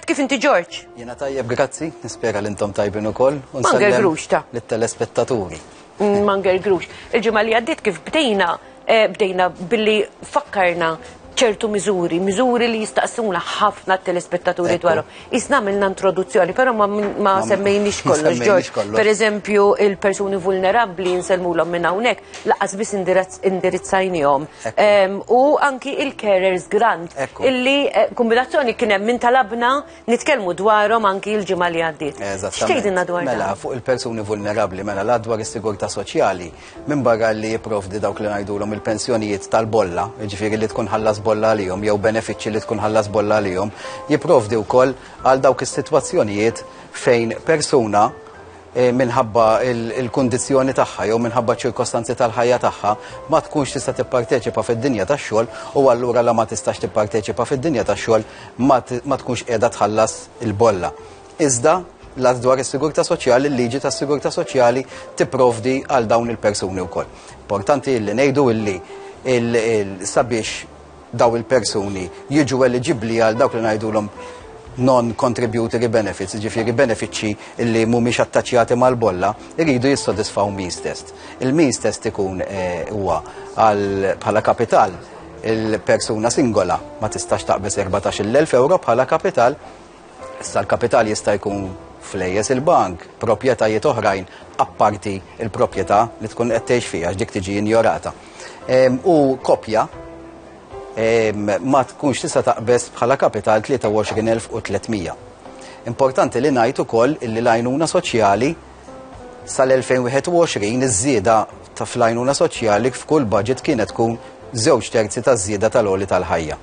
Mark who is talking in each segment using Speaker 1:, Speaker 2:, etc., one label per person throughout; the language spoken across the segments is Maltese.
Speaker 1: Kif inti Ġorġ? Jiena tajjeb grazzi, nispera li intom tajbin ukoll. Manger Grux ta. Lit-telespettaturi. Mm, Manger Grux. Il-ġimgħa li għaddiet kif bdejna eh, bdejna billi fakkarna ċertu miżuri, miżuri li jistaqsuna ħafna telespettaturi dwarhom. Isna għamilna introduzzjoni, però ma semmejniex kollox, Ġorġ. Per eżempju, il-persuni vulnerabbli nselmulhom minn hawnhekk, laqqas biss indirizzajnihom. U anki il-carers grant, illi eh, kombinazzjoni kien hemm minn talabna nitkellmu dwarhom anki l-ġimgħa li għaddiet. X'tgħidilna dwar Mela, fuq il-persuni vulnerabbli, mela la dwar is-sigurtà soċjali, minn barra li jipprovdi dawk li ngħidulhom il-pensjonijiet tal-bolla, jiġifieri li tkun ħallas bolla għalihom jew benefiċċji li tkun ħallas bolla għalihom, jipprovdi wkoll għal dawk is-sitwazzjonijiet fejn persuna minħabba l-kundizzjoni tagħha jew minħabba ċ-ċirkostanzi tal-ħajja tagħha, ma tkunx tista' tipparteċipa fid-dinja tax-xogħol u allura la ma tistax tipparteċipa fid-dinja tax-xogħol ma tkunx qiegħda tħallas il-bolla. Iżda l-Att dwar is-Sigurtà Soċjali, l-Liġi tas-Sigurtà Soċjali tipprovdi għal dawn il-persuni wkoll. Importanti li ngħidu illi sabiex dawn il-persuni jiġu eliġibbli għal dawk li ngħidulhom non-contributory benefits, ġifiri benefiċċji li mhumiex attaċjati mal-bolla, iridu jissodisfaw means test. Il-means test ikun eh, huwa bħala kapital il-persuna singola ma tistax taqbes 14.000 euro bħala kapital Issa l-kapital jista' jkun flejjes il-bank, proprjetajiet oħrajn apparti l-proprjetà li tkun qed tgħix fiha għax dik tiġi injorata. Ehm, u kopja ehm, ma tkunx tista' taqbeż bħala kapital 23,300. Importanti li ngħid ukoll illi l-għajnuna soċjali sal-2021 iż-żieda ta' fl-għajnuna soċjali f'kull budget kienet tkun żewġ terzi ta' żieda tal-oli tal-ħajja.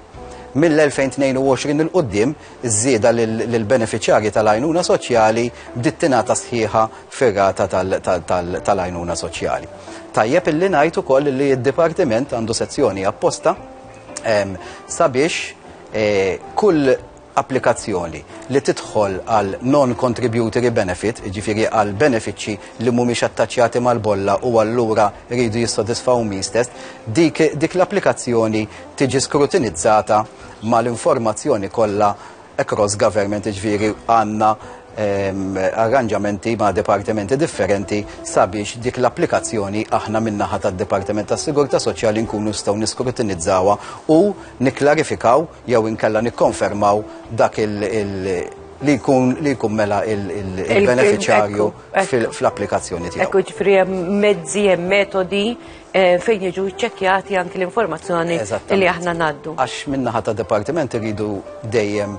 Speaker 1: Mill-2022 'il quddiem, iż-żieda lill-benefiċjarji tal-għajnuna soċjali bdiet tingħata sħiħa fir-rata tal-għajnuna soċjali. Tajjeb illi ngħid ukoll li d-Dipartiment għandu sezzjoni apposta sabiex kull applikazzjoni li tidħol għal non-contributory benefit, jiġifieri għal benefiċċji li mhumiex attaċjati mal-bolla u allura jridu jissodisfaw means test, dik, dik l-applikazzjoni tiġi skrutinizzata mal-informazzjoni kollha across government, jiġifieri għandna ehm, arranġamenti ma' dipartimenti differenti sabiex dik l-applikazzjoni aħna min-naħa tad-Dipartiment tas-Sigurtà Soċjali nkunu nistgħu niskrutinizzawha u nikklarifikaw jew inkella nikkonfermaw dak li jkun li jkun mela il-beneficjarju fl-applikazzjoni tiegħu. Ekku ġifri hemm mezzi, hemm metodi eh, fejn jiġu ċċekkjati anki l-informazzjoni li aħna ngħaddu. Għax minnaħa ta' dipartiment iridu dejjem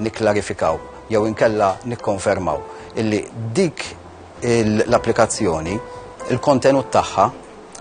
Speaker 1: nikklarifikaw jew inkella nikkonfermaw illi dik l-applikazzjoni il-kontenut tagħha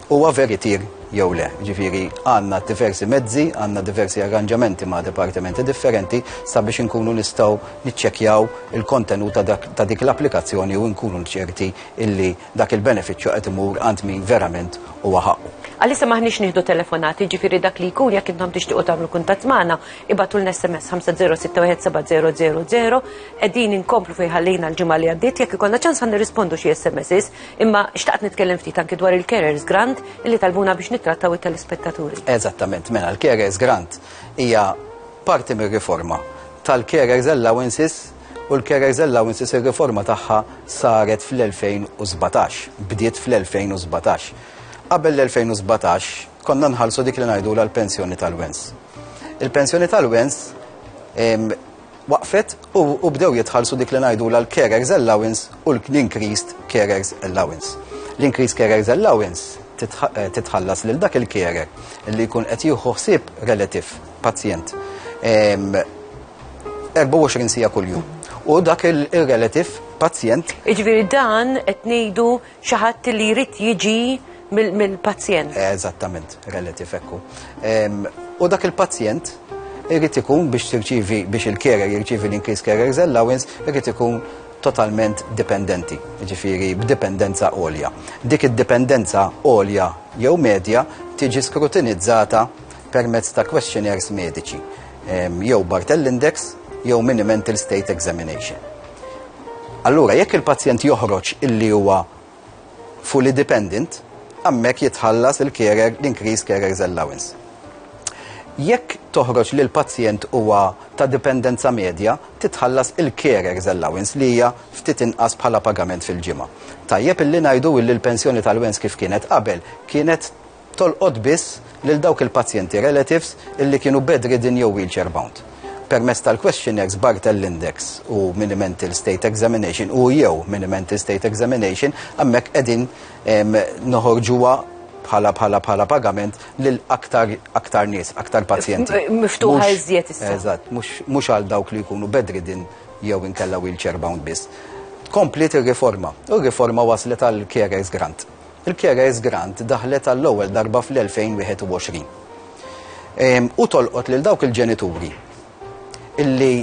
Speaker 1: huwa veritier jew le. Ġifieri għandna diversi mezzi, għandna diversi arranġamenti ma' dipartimenti differenti sabiex inkunu nistgħu niċċekkjaw il-kontenut ta' dik l-applikazzjoni u nkunu ċerti illi dak il-benefiċċju qed imur għand min verament huwa ħaqqu. Għalissa m'aħniex nieħdu telefonati, ġifieri dak li jkun jekk intom tixtiequ tagħmlu kuntatt magħna, ibgħatulna SMS 50617000, qegħdin inkomplu fejn ħallejna l-ġimgħa li għaddiet, jekk ikollna ċans ħa nirrispondu xi SMSs. Imma xtaqt nitkellem ftit anki dwar il-carers grant illi talbuna biex nittrattaw it-telespettaturi. Eżattament, mela l-carers grant hija parti mir-riforma tal-carers allowances u l-carers allowances ir-riforma tagħha saret fl-2017, bdiet fl-2017. Qabel l-2017 konna nħallsu dik li ngħidu l-pensjoni tal-wens. Il-pensjoni tal-wens waqfet u bdew jitħallsu dik li ngħidulha l-carers allowance u l-increased carers allowance. L-increased carers allowance eh, titħallas lil dak il-carer li jkun qed jieħu ħsieb relativ pazjent 24 sija kuljum. U dak il-relativ pazjent. Iġviri dan qed ngħidu Xi ħadd li jrid jiġi mill-pazjent. Eżattament, relativ ekku. U dak il-pazjent irrid ikun biex tirċivi biex il-carer jirċivi l-increase carers allowance irrid ikun totalment dipendenti, ġifiri b'dipendenza għolja. Dik id-dipendenza għolja jew medja tiġi skrutinizzata permezz ta' questionnaires mediċi, jew Bartell Index, jew Mini Mental State Examination. Allura jekk il-pazjent joħroġ illi huwa fully dependent, hemmhekk jitħallas il-carer, l-increased carer's allowance. Jekk toħroġ li l-pazjent huwa ta' dipendenza medja, titħallas il-carer's allowance li hija ftit inqas bħala pagament fil-ġimgħa. Tajjeb illi ngħidu illi l-pensjoni tal-wens kif kienet qabel kienet tolqot biss lil dawk il-pazjenti relatives illi kienu bedridden jew wheelchair bound. Permezz tal-questionnaires Barthel Index u Mini-Mental State Examination u, jew, Mini-Mental State Examination, hemmhekk qegħdin noħorġuha bħala bħala bħala pagament lil aktar aktar nies, aktar pazjenti. Miftuħa iżjed issa. Eżatt, mhux għal dawk li jkunu bedridden jew inkella wheelchair bound biss. Kompliet ir-riforma u r-riforma waslet għall-carers grant. Il-Keres Grant daħlet għall-ewwel darba fl-2021. U tolqot lil dawk il-ġenituri illi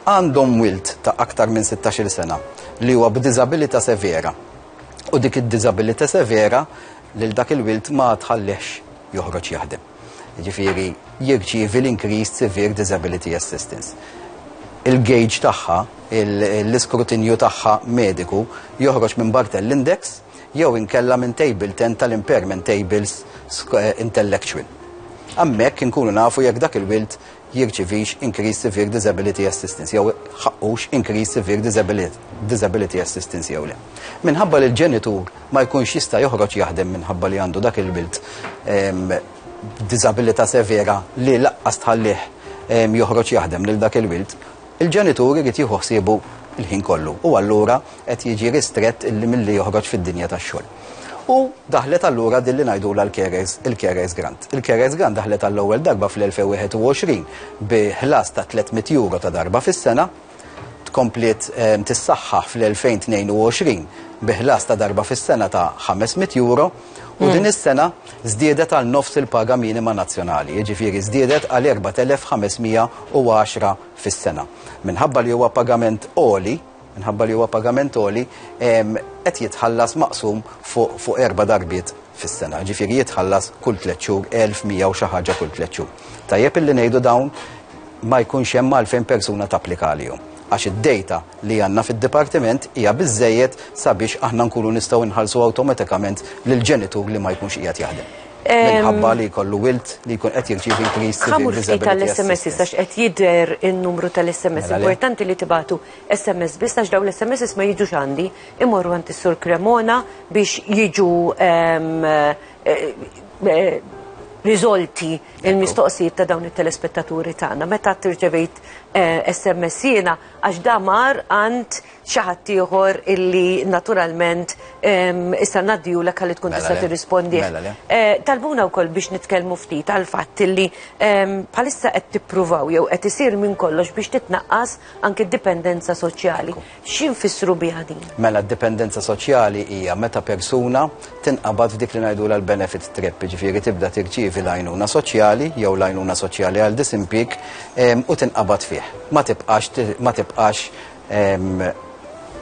Speaker 1: għandhom wild ta' aktar minn 16-il sena li huwa b'diżabilità severa. U dik id-diżabilità severa lil dak il-wild ma tħallihx joħroġ jaħdem. jiġifieri jirċievi l-Increased Severe Disability Assistance. Il-gauge tagħha, l-iskrutinju tagħha mediku joħroġ minn Barthel Index jew inkella minn Table 10 tal-Impairment Tables Intellectual. Hemmhekk inkunu nafu jekk dak il-wild jirċivix Increased Severe Disability Assistance jew ħaqqux Increased Severe Disability Assistance jew le. Minħabba li l-ġenitur ma jkunx jista' joħroġ jaħdem minħabba li għandu dak il-bilt b'diżabilità severa li laqqas tħallih joħroġ jaħdem lil dak il-wild, Il-ġenitur irid jieħu ħsiebu l-ħin kollu u allura qed jiġi ristrett illi milli joħroġ fid-dinja tax-xogħol. U daħlet allura din li ngħidulha l-carers, il-carers grant. Il-carers grant daħlet għall-ewwel darba fl-2021 bi ħlas ta' tliet mitt euro ta' darba fis-sena, tkompliet tissaħħaħ fl-2022 bi ħlas ta' darba fis-sena ta' ħames mitt euro, U din is-sena żdiedet għal nofs il-paga minima nazzjonali, jiġifieri żdiedet għal 4,510 fis-sena. Minħabba li huwa pagament għoli, minħabba li huwa pagament għoli, qed jitħallas maqsum fuq erba' darbiet fis-sena, jiġifieri jitħallas kull tliet xhur, 1,100 u xi ħaġa kull tliet xhur. Tajjeb illi ngħidu dawn ma jkunx hemm għalfejn persuna tapplika għalihom għax id-dejta, li għandna fid-dipartiment hija biżżejjed sabiex aħna nkunu nistgħu nħallsu awtomatikament lill-ġenitur li ma jkunx qiegħed jaħdem. Minħabba li jkollu wild li jkun qed jirċievi increased civil Ħamur ftit disability tal-SMS assistance. istax qed jidher in-numru tal-SMS. Mela le. Importanti li tibatu SMS biss għax dawn l-SMS ma jiġux għandi. Imorru għand is-Sur Cremona biex jiġu ehm, eh, eh, riżolti il-mistoqsijiet ta' dawn it-telespettaturi tagħna. Meta tirċevejt eh, SMS jiena għax da mar għand xi ħadd ieħor illi naturalment issa ngħaddihulek ħalli tkun mela tista' tirrispondi. Mela eh, talbuna wkoll biex nitkellmu ftit għal fatt illi bħalissa qed tippruvaw jew qed isir minn kollox biex titnaqqas anke d-dipendenza soċjali. X'infissru biha din? Mela d-dipendenza soċjali hija meta persuna tinqabad f'dik li ngħidulha l-benefit trap, jiġifieri tibda tirċievi l-għajnuna soċjali jew l-għajnuna soċjali għal disimpjieg u tinqabad fih. Ma tibqax ma tibqax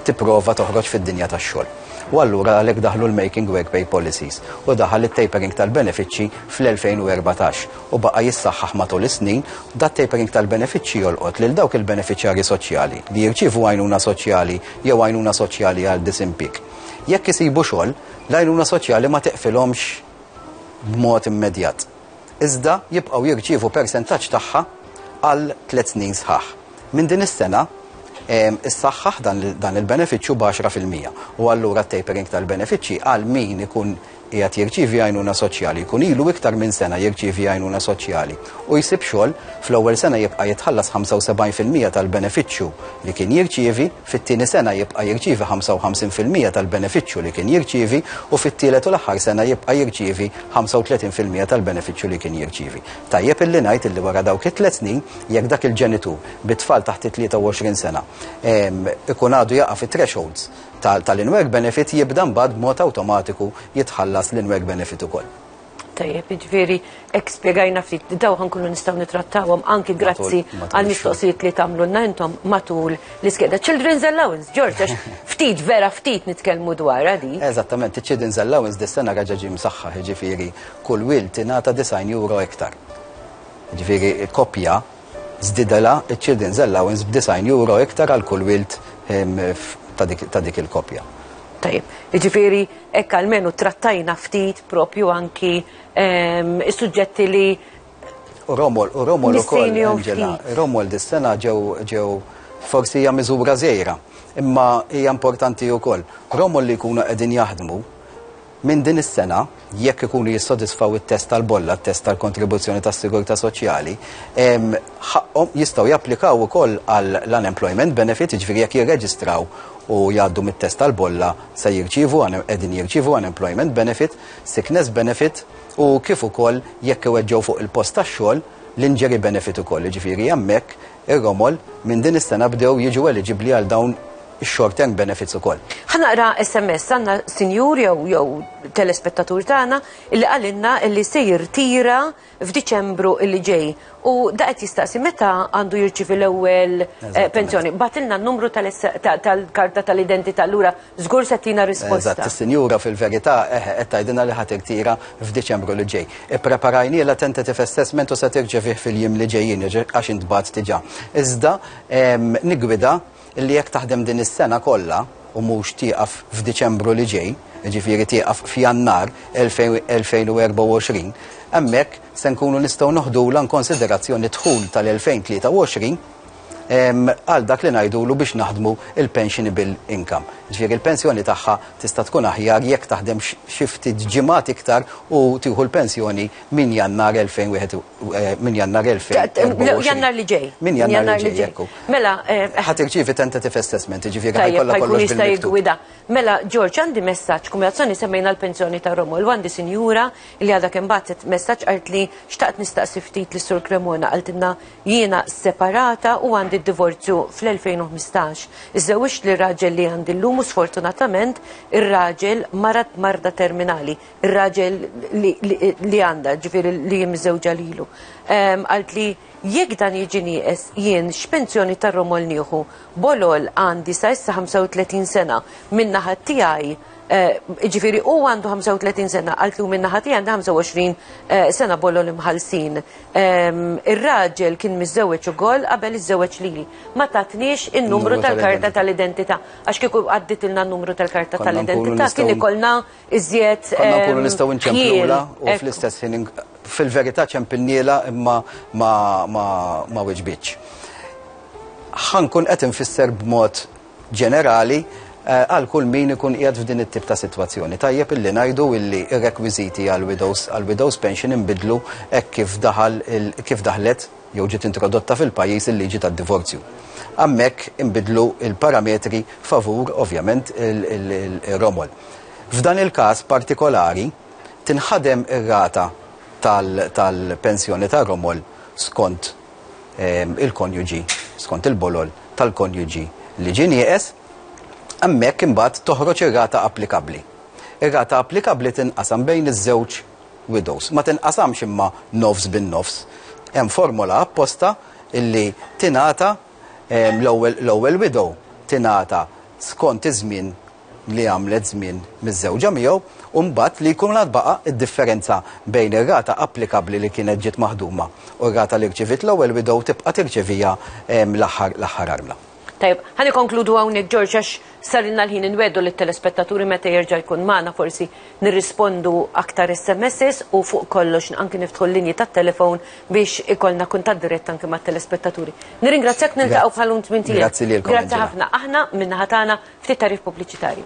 Speaker 1: tipprova toħroġ fid-dinja tax-xogħol. U allura għalhekk daħlu l-Making Work Pay Policies u daħal it-tapering tal-benefiċċji fl-2014 u baqa' jissaħħaħ matul is-snin, dat tapering tal-benefiċċji jolqot lil dawk il-benefiċjarji soċjali li jirċievu għajnuna soċjali jew għajnuna soċjali għal disimpjieg. Jekk isibu xogħol, l-għajnuna soċjali ma tiqfilhomx b'mod immedjat. Iżda jibqgħu jirċievu persentaġġ tagħha għal tliet snin sħaħ. Minn din is-sena, issaħħaħ dan il-benefiċċju b'għaxra fil-mija u allura t-tapering tal-benefiċċji għal min ikun qiegħed jirċievi għajnuna soċjali, jkun ilu iktar minn sena jirċievi għajnuna soċjali u jsib xogħol, fl-ewwel sena jibqa' jitħallas 75 fil-mija tal-benefiċċju li kien jirċievi, fit-tieni sena jibqa' jirċievi 55 fil-mija tal-benefiċċju li kien jirċievi u fit-tielet u l-aħħar sena jibqa' jirċievi 35 fil-mija tal-benefiċċju li kien jirċievi. Tajjeb illi ngħid illi wara dawk it-tliet snin, jekk dak il-ġenitur bi tfal taħt it-23 sena ikun għadu jaqa' fit-thresholds, ta' tal-in-work benefit jibda mbagħad b'mod awtomatiku jitħallas l-in-work benefit ukoll. Tajjeb, jiġifieri hekk spjegajna ftit li dawn ħankunu nistgħu nittrattawhom anki grazzi għal mistoqsijiet li tagħmlulna intom matul l-iskeda. Children's Allowance, George, għax ftit vera ftit nitkellmu dwarha di. Eżattament, iċ-Children's Allowance dis-sena reġa' ġie msaħħaħ, jiġifieri kull wild tingħata 90 euro iktar. Jiġifieri koppja Żdiedilha ċ-children's allowance b'disgħin euro iktar għal kull wild ta' dik il-koppja. Tajjeb. Jiġifieri hekk almenu trattajna ftit propju anki s-suġġetti li. U Romuald ukoll. Nistejnew ftit. Angela, Romuald is-sena ġew forsi hija miżura żgħira, imma hija importanti wkoll. Romuald li jkunu qegħdin jaħdmu Minn din is-sena, jekk ikunu jissodisfaw it-test tal-bolla, t-test tal-kontribuzzjoni tas-sigurtà soċjali, ħaqqhom, jistgħu japplikaw ukoll għall-unemployment benefit, jiġifieri jekk jirreġistraw u jgħaddu mit-test tal-bolla se jirċievu, qegħdin jirċievu unemployment benefit, sickness benefit u kif ukoll jekk iweġġgħu fuq il-post tax-xogħol, l-injury benefit ukoll, jiġifieri hemmhekk Ir-romol, minn din is-sena bdew jiġu eliġibbli għal dawn ix-short term benefits ukoll. Ħa naqra SMS għandna sinjur jew jew telespettatur tagħna illi qalilna illi se jirtira f'Diċembru illi ġej u da qed jistaqsi meta għandu jirċievi l-ewwel eh, pensjoni. Batilna n-numru tal-karta tal-identità lura Żgur se tina risposta. Eżatt, is-Sinjura fil-verità eħe qed tgħidilna li ħa tirtira f'Diċembru li ġej. Ippreparajnielha tentative assessment u se tirċevih fil-jiem li ġejjin għax intbagħat diġà. Iżda niggwida li jekk taħdem din is-sena kollha u mhux tieqaf f'Diċembru li ġej, jiġifieri tieqaf f'Jannar 2024, hemmhekk se nkunu nistgħu noħdulha inkonsiderazzjoni d-dħul tal-2023 għal dak li ngħidulu biex naħdmu il-pensionable income. Ġifieri l-pensjoni tagħha tista' tkun aħjar jekk taħdem xi ftit ġimgħat iktar u tieħu l-pensjoni minn Jannar 2021, minn Jannar 2024. Jannar li ġej. Minn Jannar li ġej, hekk hu. Mela. Ħa tirċievi tentative assessment, jiġifieri ħa jkollha kollox. Ħajkun jista' jiggwida. Mela, George, għandi messaġġ, kumulazzjoni semmejna l-pensjoni ta' Romol, għandi sinjura li għadha kemm bagħtet messaġġ qalt li xtaqt nistaqsi ftit lis-Sur Cremona qaltilna Jiena separata u għandi d-divorzju fl-2015. Iżżewwiġt lir-raġel li għandi llum u sfortunatament ir-raġel marad b'marda terminali, ir-raġel li għandha, ġifieri li hi miżżewġa lilu. Qaltli, Jekk dan jiġi nieqes, jien x'pensjoni tar-romol nieħu? Bolol għandi sa issa 35 sena, min-naħa tiegħi, ġifieri hu għandu 35 sena, qaltli u min-naħa tiegħi għandi 25 sena bolol imħallsin. Ir-raġel kien miżżewweġ ukoll qabel iżżewweġ lili. Ma tatniex in-numru tal-karta tal-identità. Għax kieku għadditilna n-numru tal-karta tal-identità kien ikollna iżjed. Konna nkunu nistgħu nċempilha u fl-istess ħin fil-verità ċempilnielha imma ma wiġbitx. Ħankun qed infisser b'mod ġenerali għal kull min ikun qiegħed f'din it-tip ta' sitwazzjoni. Tajjeb illi ngħidu illi r-rekwiżiti għall-widows għall-widows pension inbidlu hekk kif daħal il kif daħlet jew ġiet introdotta fil-pajjiż il-liġi tad-divorzju. Hammhekk inbidlu l-parametri favur, ovvjament, ir-romol. F'dan il-każ partikolari tinħadem ir-rata tal tal-pensjoni tar-romol skont il-konjuġi, skont il-bolol tal-konjuġi li ġie nieqes, hemmhekk imbagħad toħroġ ir-rata applikabbli. Ir-rata applikabbli tinqasam bejn iż-żewġ widows. Ma tinqasamx imma nofs bin-nofs. Hemm formola apposta illi tingħata l-ewwel widow tingħata skont iż-żmien li għamlet żmien miżżewġa miegħu u mbagħad li jkun għad baqa' d-differenza bejn ir-rata applikabbli li kienet ġiet maħduma u r-rata li rċiviet l-ewwel widow tibqa' tirċeviha l-aħħar l-aħħar armla. Tajjeb, ħa nikkonkludu hawnhekk George għax sarilna l-ħin inwegħdu lit-telespettaturi meta jerġa' jkun magħna forsi nirrispondu aktar SMSs u fuq kollox anki niftħu l-linji tat-telefon biex ikollna kuntatt dirett anki mat-telespettaturi. Nirringrazzjak niltaqgħu bħal-lum tmien tielet. Grazzi lilkom. Grazzi ħafna. Aħna min-naħa tagħna Ftit tarif pubbliċitarju.